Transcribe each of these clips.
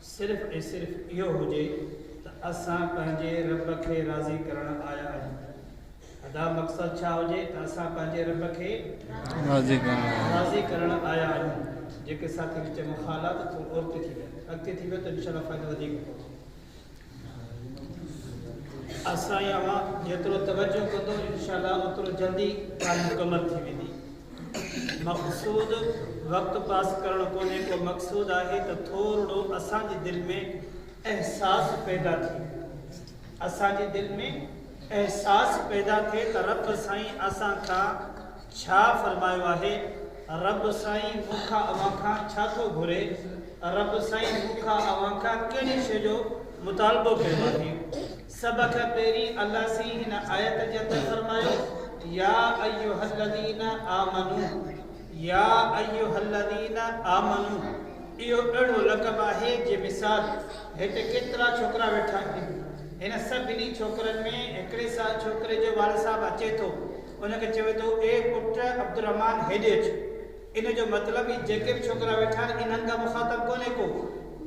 صرف ۽ صرف اهو هجي ته اسان پنهنجي رب کي راضي ڪرڻ آيا آهيون ادا مقصد ڇا هجي ته اسان پنهنجي رب کي راضي ڪرڻ آيا آهيون جيڪي ساٿي وچ ۾ خالا ته ٿو اورتي ٿي ويا اڳتي ٿي ويا ته انشاءالله فائدو وڌيڪ پوندو اسان اوهان جيترو توجه ڪندو انشاءالله اوترو جلدي ڳالهه مڪمل ٿي ويندي مقصود وقت پاس ڪرڻ ڪونهي ڪو مقصود آهي ته ٿورڙو اسان جي دل ۾ احساس پيدا ٿئي اسان جي دل ۾ احساس پيدا ٿئي ته رب سائين اسان کان ڇا فرمايو آهي رب سائين مون کان اوهان کان ڇا ٿو گهري رب سائين مون کان اوهان کان ڪهڙي شي جو مطالبو ڪيو آهي سڀ کان پهرين الله سين هن آيت جي اندر فرمايو، يا ايها الذين آمنو، يا ايها الذين آمنو، اهو اهڙو لقب آهي جي مثال هت ڪيترا ڇوڪرا ويٺا آهن، هن سڀني ڇوڪرن ۾ هڪڙي ڇوڪري جو والد صاحب اچي ٿو، ان کي چوي ٿو، اي پٽ عبدالرحمان هيڏي اچ. ان جو مطلب هي جيڪي به ڇوڪرا ويٺا آهن انهن کان مخاطب ڪونهي ڪو.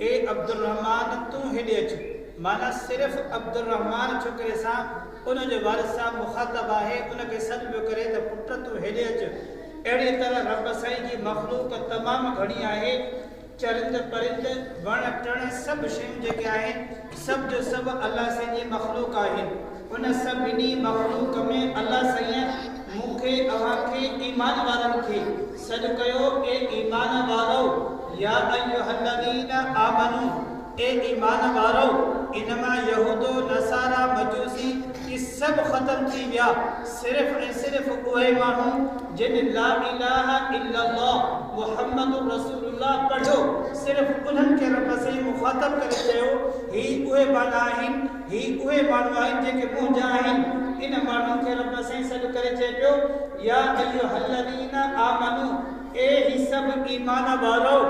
اي عبدالرحمان تون هيڏي اچ. معنيٰ صرف عبدالرحمان ڇوڪري سان ان جو والد صاحب مخاطب آهي ان کي سڏ پيو ڪري ته پٽ تون هيڏي اچ. اهڙيء طرح رب سائين جي مخلوق تمام گهڻي آهي. چرند پرند، وڻ ٽڻ سڀ شيون جيڪي آهن سڀ جو سڀ الله سائين جي مخلوق آهن. ان سڀني مخلوق ۾ الله سائين مون کي اوهان کي ايمان وارن کي سڏ ڪيو اي ايمان وارؤ يا ايها الذين آمنو اي ايمان وارؤ انما يهودو نصارا مجوسي اهي سڀ ختم ٿي ويا صرف ۽ صرف اهي ماڻهو جن لا اله الا الله محمد رسول الله پڙهيو، صرف انهن کي رب سائين مخاطب ڪري چيو، هي اهي ٻالا آهن، هي اهي ماڻهو آهن جيڪي منهنجا آهن. ان ماڻهن کي رب سائين سڏ ڪري چئي پيو، يا ايها الذين آمنو، اي هي سڀ ايمان وارؤ،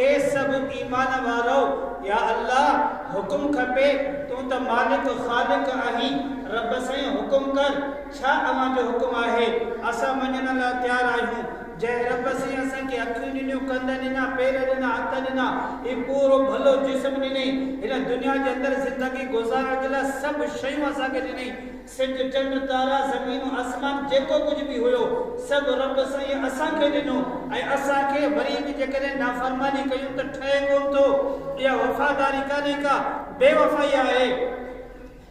اي سڀ ايمان وارؤ، يا الله حڪم کپي، تون ته مالڪ خالق آهين، رب سائين حڪم ڪر، ڇا اوهان جو حڪم آهي؟ اسان مڃڻ لاء تيار آهيون. جنهن رب سين اسان کي اکيون ڏنيون، ڪنڌ ڏنا، پير ڏنا، هٿ ڏنا، هي پورو ڀلو جسم ڏنئي، هن دنيا جي اندر زندگي گذارڻ جي لاء سڀ شيون اسان کي ڏنئي، سج، چنڊ، تارا، زمينون، آسمان، جيڪو ڪجهه به هيو، سڀ رب سائين اسان کي ڏنو ۽ اسان کي وري به جيڪڏهن نافرماني ڪيون ته ٺهي ڪونه ٿو. اها وفاداري ڪانهي ڪا بيوفائي آهي.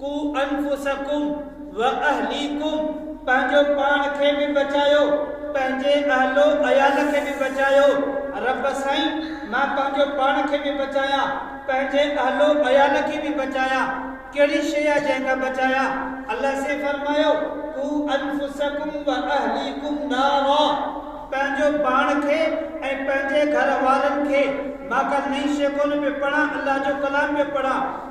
قو انفسکم واهليکم پنهنجو پاڻ کي به بچايو پنهنجي اهل و عيال کي به بچايو رب سائين مان پنهنجو پاڻ کي به بچايان پنهنجي اهل و عيال کي به بچايان ڪهڙي شيء آ جنهن کان بچايان الله سين فرمايو قو انفسکم واهليکم نارا پنهنجو پاڻ کي ۽ پنهنجي گهر وارن کي مان ڪل نئي شيء ڪونه پيو پڙهان الله جو ڪلام پيو پڙهان.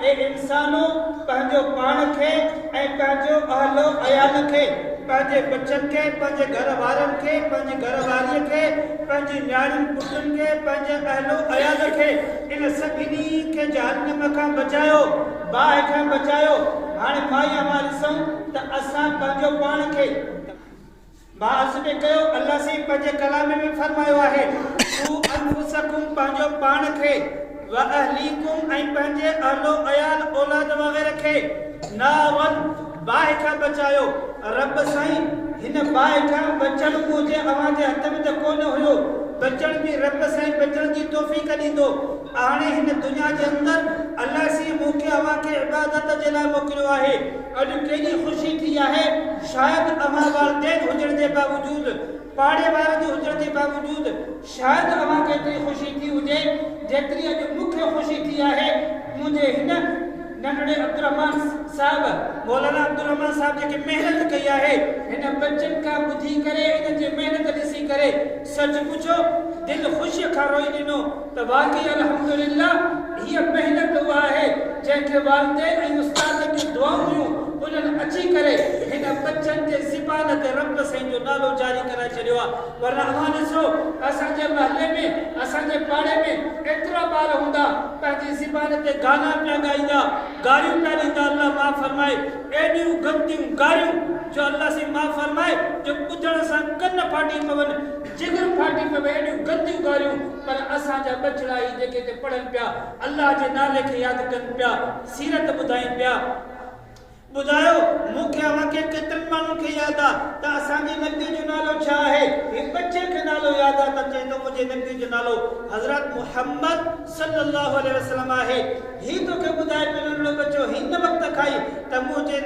اي انسانو! پنهنجو پاڻ کي ۽ پنهنجو اهل و عيال کي، پنهنجي ٻچن کي، پنهنجي گهر وارن کي، پنهنجي گهر واريء کي، پنهنجي نياڻين پٽن کي، پنهنجي اهل و عيال کي، ان سڀني کي جهنم کان بچايو، باهه کان بچايو. هاڻي مائي اوهان ڏسون ته اسان پنهنجو پاڻ کي. بعض به ڪيو الله سائين پنهنجي ڪلام ۾ فرمايو آهي قو انفسکم پنهنجو پاڻ کي واهليکم ۽ پنهنجي اهل و عيال اولاد وغيره کي نارن باهه کان بچايو رب سائين هن باهه کان بچڻ منهنجي اوهان جي هٿ ۾ ته ڪونه هيو بچڻ جي رب سائين بچڻ جي توفيق ڏيندو اهاڻي هن دنيا جي اندر الله سائين مون کي اوهان کي عبادت جي لاء موڪليو آهي اڄ ڪيڏي خوشي ٿي آهي، شايد اوهان والدين هجڻ جي باوجود، پاڙي وارن جي هجڻ جي باوجود، شايد اوهان کي ايتري خوشي ٿي هجي، جيتري اڄ مون کي خوشي ٿي آهي. منهنجي هن ننڍڙي عبدالرحمان صاحب، مولانا عبدالرحمان صاحب جيڪي محنت ڪئي آهي، هن ٻچن کان ٻڌي ڪري، انهن جي محنت ڏسي ڪري، سچ پڇو دل خوشيء کان روئي ڏنو. ته واقعي الحمدلله هيء محنت اها آهي جنهن کي والدين ۽ استادن جون دعائون هيون انهن اچي ڪري هن ٻچن جي زبان تي رب سائين جو نالو جاري ڪرائي ڇڏيو آهي ورنه اوهان ڏسو اسان جي محلي ۾ اسان جي پاڙي ۾ ايترا ٻار هوندا پنهنجي زبان تي گانا پيا ڳائيندا گاريون پيا ڏيندا الله معاف فرمائي ايڏيون گنديون گاريون جو الله سائين معاف فرمائي جو ٻڌڻ سان ڪن ڦاٽي پون جگر ڦاٽي پيو وئي ايڏيون گنديون ڳالهيون پر اسان جا ٻچڙا ئي جيڪي اتي پڙهن پيا الله جي نالي کي ياد ڪن پيا سيرت ٻڌائين پيا. ٻڌايو مون کي اوهان کي ڪيترن ماڻهن کي ياد آ ته اسان جي نقدي جو نالو ڇا آهي هي ٻچي کي نالو ياد آ ته چئي ٿو منهنجي نقدي جو نالو حضرت محمد صلي الله عليه وسلم آهي هي توکي ٻڌائي پيو ننڍڙو ٻچو هن وقت کائي ته منهنجي